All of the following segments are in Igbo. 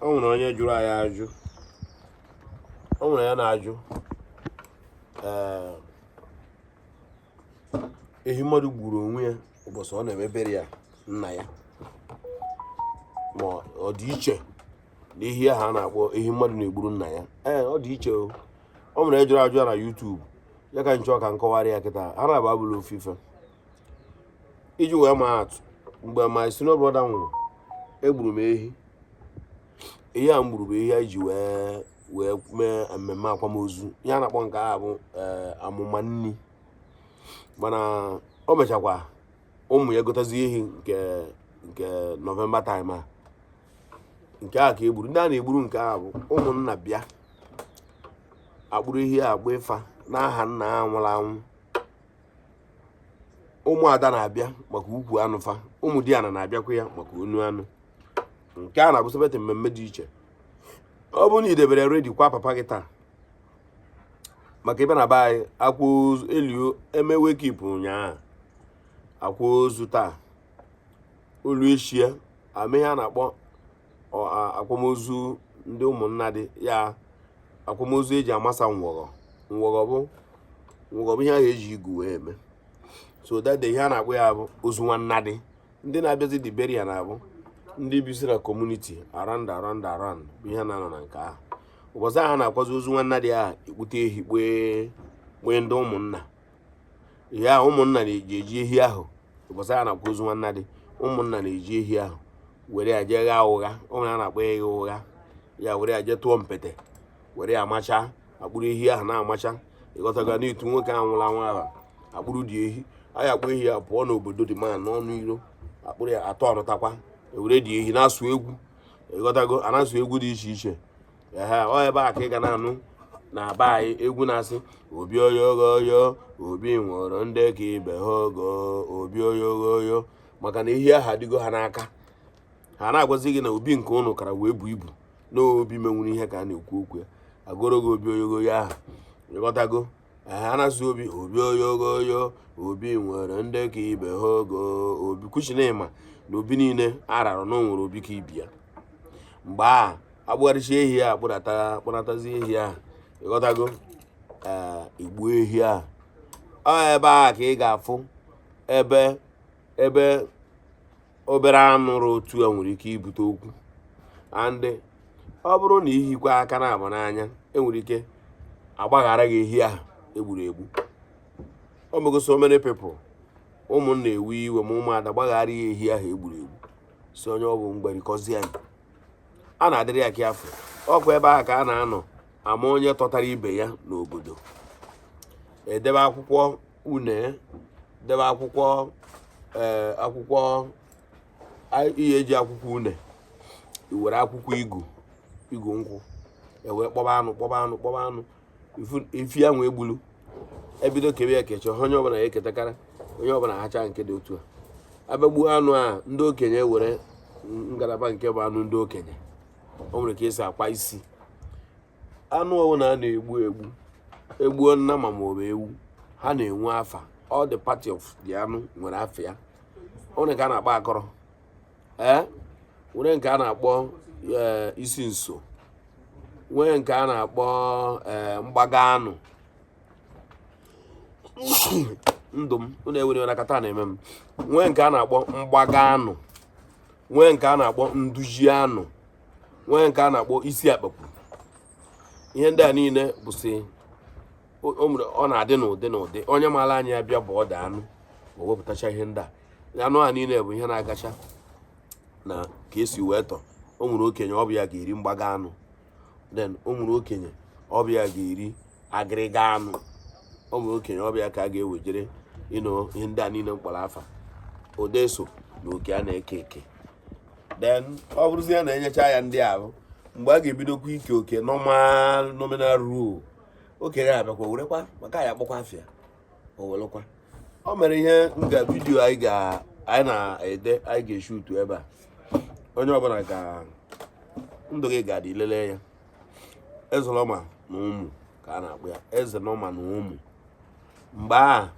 o nwere onye jụrụ anyị ajụ o nwere ya na-ajụ ehi mmadụ gburu onwe ya ụbọchị ọ na-emebere ya nna ya ma ọ dị iche na ehi ahụ a na-akpọ ehi mmadụ na-egburu nna ya ee ọ dị iche o o nwere onye jụrụ ajụ a na YouTube ya ka m chọ ka m kọwara ya kịta ha naabọ abụrọ ofu ife iji wee maa atụ mgbe my senior brother nwụrụ egburu m ehi ehi a m gburu bụ ehi anyị ji wee wee mee mmemme akwamozu ihe a na-akpọ nke a bụ eh, amụma nni mana o mechakwa ụmụ ya gotazi ehi nke nke November time a nke a ka egburu ndị a na-egburu nke a bụ ụmụnna bịa akpụrụ ehi a agba ịfa n'aha nna ha nwụrụ anwụ ụmụada na-abịa maka ukwu anụ fa ụmụdiana na-abịakwa ya maka onu anụ nke a na-abụ separate mmemme dị iche ọ bụrụ na i debere ready kwa papa gị taa maka ebe na be anyị akwa ozu elio eme wake keep ụnyaahụ akwa ozu taa o lu eshi e mee ihe a na-akpọ akwamozu ndị ụmụnna dị ya akwamozu eji amasa ngwọgọ ngwọgọ bụ ngwọgọ bụ ihe ahụ eji igu wee eme so that day ihe a na-akpọ ya bụ ozu nwanna dị ndị na-abịazi the burial na-abụ ndị bisi na community around around around bụ ihe na-anọ na nke ahụ ụbọchị ahụ a na-akwazi ozu nwanna dị ahụ ekpute ehi kpee kpee ndị ụmụnna ihe ụmụnna na-eji eji ehi ahụ ụbọchị a na-akwa ozu nwanna dị ụmụnna na-eji ehi ahụ were ya jee ghaa ụgha o nwe ihe a na-akpọ ịgha ụgha ya were ya jee tụọ mpete were ya amacha akpụrụ ehi ahụ na-amacha ịghọtago n'itu nwoke ahụ nwụrụ anwụ ahụ akpụrụ dị ehi anyị akpụ ehi a pụọ n'obodo dị ma n'ọnụ iro akpụrụ ya atọ ọnụtakwa ewere dị ehi na-asụ egwu ịghọtago a na-asụ egwu dị iche iche ehe ọ ebe a ka ị ga na-anụ na be anyị egwu na-asị obi oyogoyo obi nwere ndị ka ibe ha ogo obi oyogoyo maka na ehi ahụ adịgo ha n'aka ha na-agwazi gị na obi nke ụnụ kara wee bu ibu na obi menwuru ihe ka a na-ekwu okwu ya agụọrọ gị obi oyogoyo ahụ ịghọtago a na-asị obi obi oyogoyo obi nwere ndị ka ibe ha ogo o because na ị ma na obi niile ararọ na o nwere obi ka ibe ya mgbe a akpụgharịcha ehi a kpụnatazi ehi a ịghọtago egbuo ehi a ọ ebe ahụ ka ị ga-afụ ebe ebe obere anụ rụ otu a nwere ike ibute okwu and ọ bụrụ na ihikwa aka na abụ n'anya enwere ike agbaghara gị ehi ahụ egburu egbu o mego so many people ụmụnna ewe iwe ma ụmụada gbaghara ya ehi ahụ egburu egbu sị onye ọ bụ mgbarikọzi ya a na-adịrị ya ka afọ ọkwa ebe ahụ ka a na-anọ ama onye tọtara ibe ya n'obodo edebe akwụkwọ une debe akwụkwọ eh, akwụkwọ ihe eji akwụkwọ une e were akwụkwọ igu igu nkwụ ewee kpọba anụ kpọba anụ kpọba anụ efi e wee gbulu ebido kebe ya kecha onye ọbụla ya eketakara onye ọbụla hacha nke dị otu a a bịa gbuo anụ a ndị okenye were ngalaba nke bụ anụ ndị okenye o nwere ka esi akpọ isi anụ ọwụna a na-egbu egbu egbuo nnama ma ọ bụ ewu ha na-enwe afa all the part of the anụ nwere afa ya o nwere nke a na-akpọ akọrọ ee nwere nke a na-akpọ eh, isi nso nwee nke a na-akpọ eh, mgbaga anụ ndụ m unu ewere ya na akata na-eme m nwee nke a na-akpọ mgbaga anụ nwee nke a na-akpọ nduzi anụ nwee nke a na-akpọ isi akpakwụrụ ihe ndị a niile bụsị ọ na-adị n'ụdị n'ụdị onye maara anya ya bịa bụ ọda anụ o wepụtacha ihe ndị a anụ a niile bụ ihe na-agacha na ka esi wee tọ o nwere okenye ọ bụ ya ga-eri mgbaga anụ then o nwere okenye ọ bụ ya ga-eri agịrịga anụ o nwere okenye ọ bụ ya ka a ga-ewejere ịnụ ihe ndị a niile m kpọrọ afa ọ da-eso na oke a na-eke eke then ọ bụrụzi ya na enyecha ya ndị ahụ mgbe a ga-ebidokwa ike oke normal nominal roll okenye abịakwa werekwa maka ya akpọkwa afa ya o werekwa o mere ihe nga vidiyo anyị ga anyị na-ede anyị ga-eshutu ebe a onye ọbụla ga ndụ gị ga-adị ilele ya ezelọma na ụmụ ka a na-akpọ ya eze nọma na ụmụ mgbe a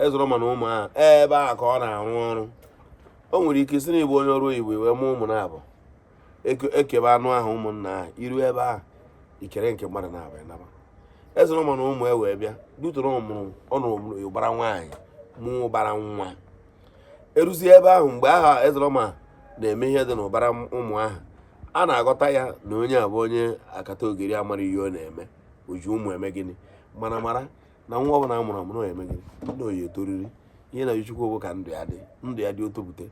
ezelọma na ụmụ a ebe a ka ọ na-arụ ọrụ o nwere ike ị sị na ị bụ onye ọrụ oyibo wee mụọ ụmụ naabọ ekebe anụ ahụ ụmụnna ahụ i ru ebe ahụ i kere nke mmadụ naabọ ị naba ezelọma na ụmụ e wee bịa dutụrụ ọ mụrụ ọ nụọ ụbara nwaanyị mụọ ụbara nwa eruzie ebe ahụ mgbe ahụ ezelọma na-eme ihe dị n'ụbara ụmụ ahụ a na-aghọta ya na onye abụ onye akata ogiri amara ihe ọ na-eme o ji ụmụ eme gịnị mana mara na nwa ọbụla a mụrụ amụ na eme gịnị na ọ ya etoriri ihe na Chukwu bụ ka ndụ ya dị ndụ ya dị o topụte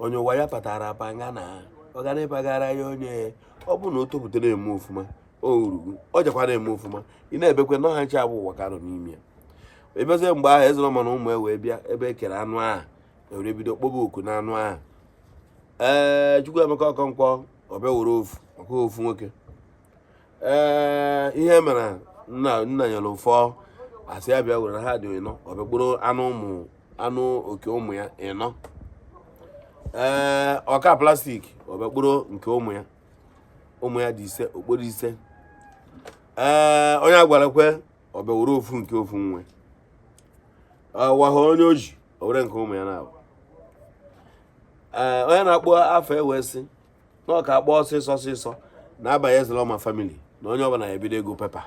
onye ụwa ya patara apa nga na ọ ga na-epagara ya onye ọbụna o topụta na-eme ọfụma o rugo ọ jakwa na-eme ọfụma ị na-ebekwe na ọha nche abụ ụwa ka nọ n'ime ya ebezie mgbe ahụ Ezeloma na ụmụ ewee bịa ebe e kere anụ ahụ ewere bido kpọba oku na anụ ahụ ee Chukwuemeka Okonkwo ọ bịa were ofu maka ofu nwoke ee ihe mere nna nna nyere ụfọ a sị ya bịa were na ha dị ịnọ ọ bịa kporo anụ ụmụ anụ nke ụmụ ya ịnọ ee ọka plastic ọ bịa kporo nke ụmụ ya ụmụ ya dị ise okporo ise ee onye agwara kwe ọ bịa were ofu nke ofu nwe ọwaha onye oji o were nke ụmụ ya naabọ ee onye na-akpọ afa ewee sị na ọ ka akpọ ọsịsọ ọsịsọ na-abanye Ezeloma family na onye ọbụla ebido ịgụ pepa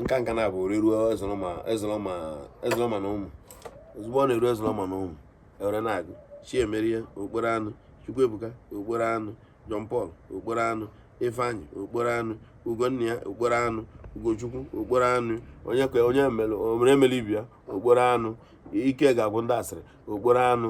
nka nka na abụ oreruo Ezeloma Ezeloma Ezeloma na ụmụ ozugbo ọ na-eru Ezeloma na ụmụ ewere na-agụ Chiemerie okporo anụ Chukwuebuka okporo anụ John Paul okporo anụ Ifeanyi okporo anụ Ugonnia okporo anụ Ugochukwu okporo anụ onye ka onye mere emere ibi ya okporo anụ ike ga-agwụ ndị asịrị okporo anụ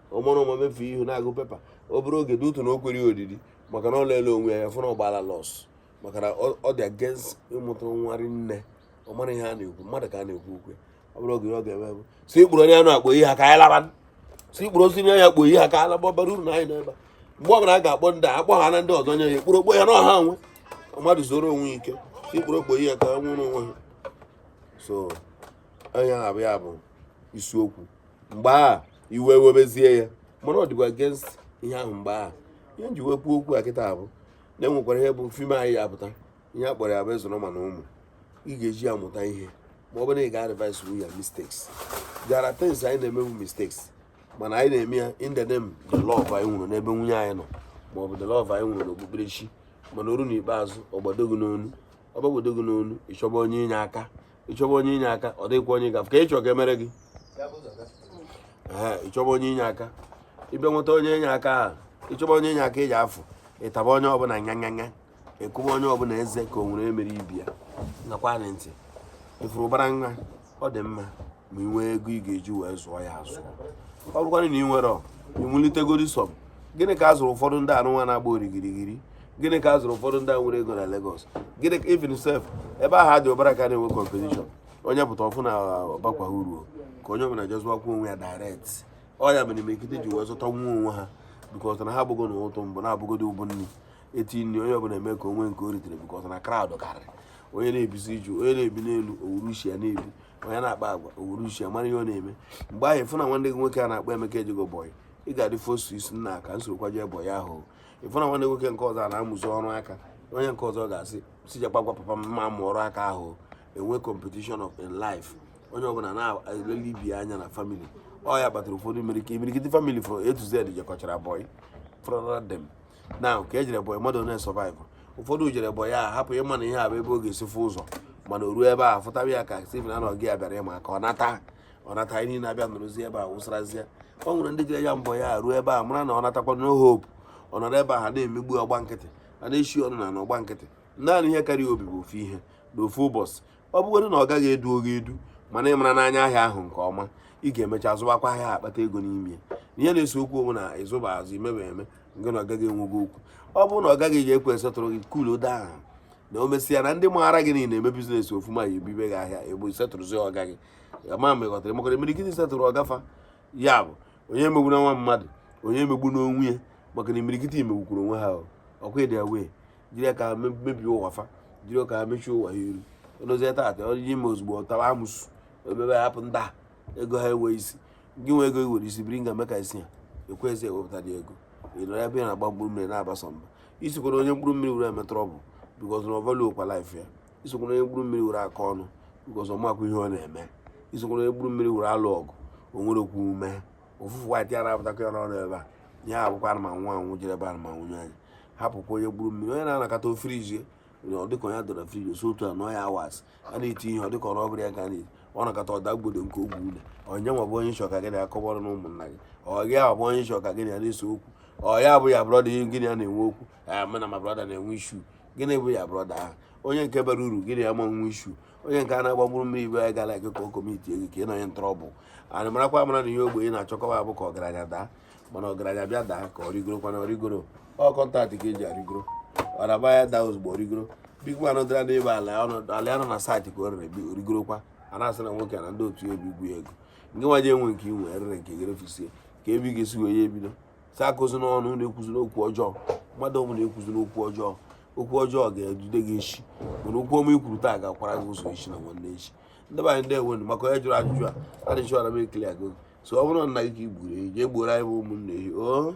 ọ mara ụma mefu ihu na-agụ pepa obere oge dị otu na o kwerọ ya odidi maka na ọ lele onwe ya fụ na ọ gbala loss maka na ọ dị against ịmụta nwa rinne ọ mara ihe a na-ekwu mmadụ ka a na-ekwu okwe ọ bụrụ oge ọ ga-eme bụ si ikpuru onye anụ akpọ ihe ha ka anyị laba si ikpuru osi nye ya kpọ ihe ha ka anyị laba bara uru na anyị n'ebe mgbe ọ bụla a ga-akpọ ndị a akpọ ha na ndị ọzọ nye ya ekpuru okpo ya na ọha nwe mmadụ zoro onwe ike si ikpuru okpo ihe ka nwụrụ onwe ha so onye na-abụ ya bụ isi okwu mgbe a iwe webezie ya mana ọ dịkwa against ihe ahụ mgbe a ihe m ji wee kwuo okwu a kịta bụ na enwekwara ihe bụ film anyị ya apụta ihe a kpọrọ ya bụ Ezeloma na ụmụ ị ga-eji ya mụta ihe ma ọ bụrụ na ị ga-advise wu ya mistakes there are things anyị na-emewu mistakes mana anyị na-eme ya in the name the love anyị nwere n'ebe nwunye anyị nọ ma ọ bụ the love anyị nwere n'okpukperechi mana o ruo n'ikpeazụ ọ gbado gị n'onu ọ gbagbodo gị n'onu ị chọba onye inye aka ị chọba onye inye aka ọ dịghịkwa onye gafe ka ị chọ ka e mere gị ị chọba onye inye aka ị bịa nweta onye inye aka ahụ ị chọba onye inye aka iji afụ ị taba onye ọbụla nyanyanya ị kụba onye ọbụla eze ka o nwere emere ibi ya nakwa na ntị ị fụrụ ụbara nwa ọ dị mma ma ị nwee ego ị ga-eji wee zụọ ya azụ ọ bụrụkwanụ na ị nwere iwulitegodi some gịnị ka a zụrụ ụfọdụ ndị a nụnwa na-agba origirigiri gịnị ka a zụrụ ụfọdụ ndị a nwere ego na Lagos gịnị ka even sef ebe ahụ dị ụbara ka na-enwe competition onye pụta ọ fụ na ọ bakwa uru ka onye ọbụla jee zụwakwa onwe ya direct ọ ya mere imirikiti ji wee zụta nwa onwe ha because na ha abụgo na ụtụ mbụ na-abụgodi ụbụ nri eti nri onye ọbụla eme ka o nwee nke o ritere because na crowd karịrị onye na-ebizi iju onye na-ebi n'elu o were uche ya na-ebi onye na-akpa agwa o were uche ya mara ihe ọ na-eme mgbe ahụ ị fụ na nwanne gị nwoke a na-akpọ Emeka ejego boy ị ga-adị forced sị nna ka m sorokwa jee boy ahụ ị fụ na nwanne nwoke nke ọzọ a na-amụzi ọrụ aka onye nke ọzọ ga-asị sị jakwa gwa papa m ma mụọ ọrụ aka ahụ enwe competition of in life onye ọbụla na-elele ibe ya anya na family ọ ya kpatara ụfọdụ imirike imirikiti family from A to Z jekọchara boy from them now ka ejere boy mmadụ na-esurvive ụfọdụ jere boy a hapụ ịma na ihe a bụ ebe ọ ga-esi fụ ụzọ mana o ruo ebe a fụtawa ya ka Stephen anọghị ya bịara ịma ka ọ nata ọ nata anyị niile abịa nọrọzi ebe a wụsarazie ọ nwere ndị jere ya bụ boy a ruo ebe a mara na ọ natakwa no hope ọ nọrọ ebe a ha na-emegbu ọ gba nkịtị a na-echi ọnụ n'ala ọ gba nkịtị naanị ihe kara ya obi bụ ofu ihe na ofu ụbọchị ọ bụgodị na ọga gị eduro gị edu mana ị mara anya ahịa ahụ nke ọma ị ga-emecha zụwakwa ahịa akpata ego n'ime ya na ihe na-ese okwu onwe na ị zụba azụ i mebe eme nke na ọga gị enwego okwu ọ bụrụ na ọga gị ga-ekwe settle gị cool down na o mesịa na ndị maara gị niile eme business ofuma ya ebibe gị ahịa ebo settlezi ọga gị ma ma ị ghọtara maka na imirikiti settle ọga fa ya bụ onye emegbuna nwa mmadụ onye emegbuna onwe ya maka na imirikiti emegbukwuru onwe ha ọkwa ịdị wee jiri aka mebie ụwa fa jiri aka mechie ụwa ha iru odozie taata onye ime ozugbo ọ tawa amụsụ emebe hapụ ndị a ego ha enwe isi gị nwe ego i were isi biri nga meka isi ya ekwezi ewepụta dị ego ị nọrọ ebe ị na-agba mkpụrụ mmiri na-abasa mba esokwana onye mkpụrụ mmiri were eme trouble because na ọ valuerọkwa life ya esokwana onye mkpụrụ mmiri were akọ ọnụ because ọ makwa ihe ọ na-eme esokwana onye mkpụrụ mmiri were alụ ọgụ o nwere okwu ume ụfụfụ white ya na-apụtakwa ya n'ọnụ ebe a ya abụkwa anụmanụ anwụ jere ebe anụmanụ anyị hapụkwa onye mkpụrụ mmiri onye na-anọkata o freeze ọ dịka onye dọrọ freeze o si otu a nọọ ya hours a na-eti ihe ọ dịka ọ bụrụ ya ka a na-eti ọ nọkata ọ daa gbodo nke ọ gwụ ụdị onye nwa bụ onye ị chọ ka gị na akọbọrọ na ụmụnna gị ụdị ahụ bụ onye ị chọ ka gị na ya na-ese okwu ọ ya bụ your brother ahụ gị na ya na-enwe okwu ya mụ na my brother na-enwe issue gịnị bụ your brother ahụ onye nke bara uru gị na ya ama nwe issue onye nke a na-agba mkpụrụ mmiri ibe ya ga-alike ka ọ commit gị ka ị nọnye na trouble anyị marakwa amara na ihe ogbenye na-achọkọwa bụ ka ọgaranya daa mana ọgaranya bịa daa ka ọ rigoro kwana ọ rigoro ọ contact ka eji arigoro ọ na-agba ya daa ozugbo o rigoro big man dara n'ebe ala ala ya nọ na site ka o rere o rigorokwa a na-asị na nwoke na ndị otu ya obi igwu ya ego nke nwa ji enwe nke inwe erere nke gị refisie kee ebe ị ga-esi wee ya ebido sị akọzina ọnụ ekwuzina okwu ọjọọ mmadụ ọbụla ekwuzina okwu ọjọọ okwu ọjọọ ga-edude gị echi mana okwu ọma i kwuru taa ga-akwara gị ụzọ echi na nwanne echi ndị be anyị ndeewonụ maka onye jụrụ ajụjụ a a na-echi ọra m ekele agụ so ọ bụrụ na nna gị ka i gburu ehi jee gbuoro anyị bụ ụmụnne ehi o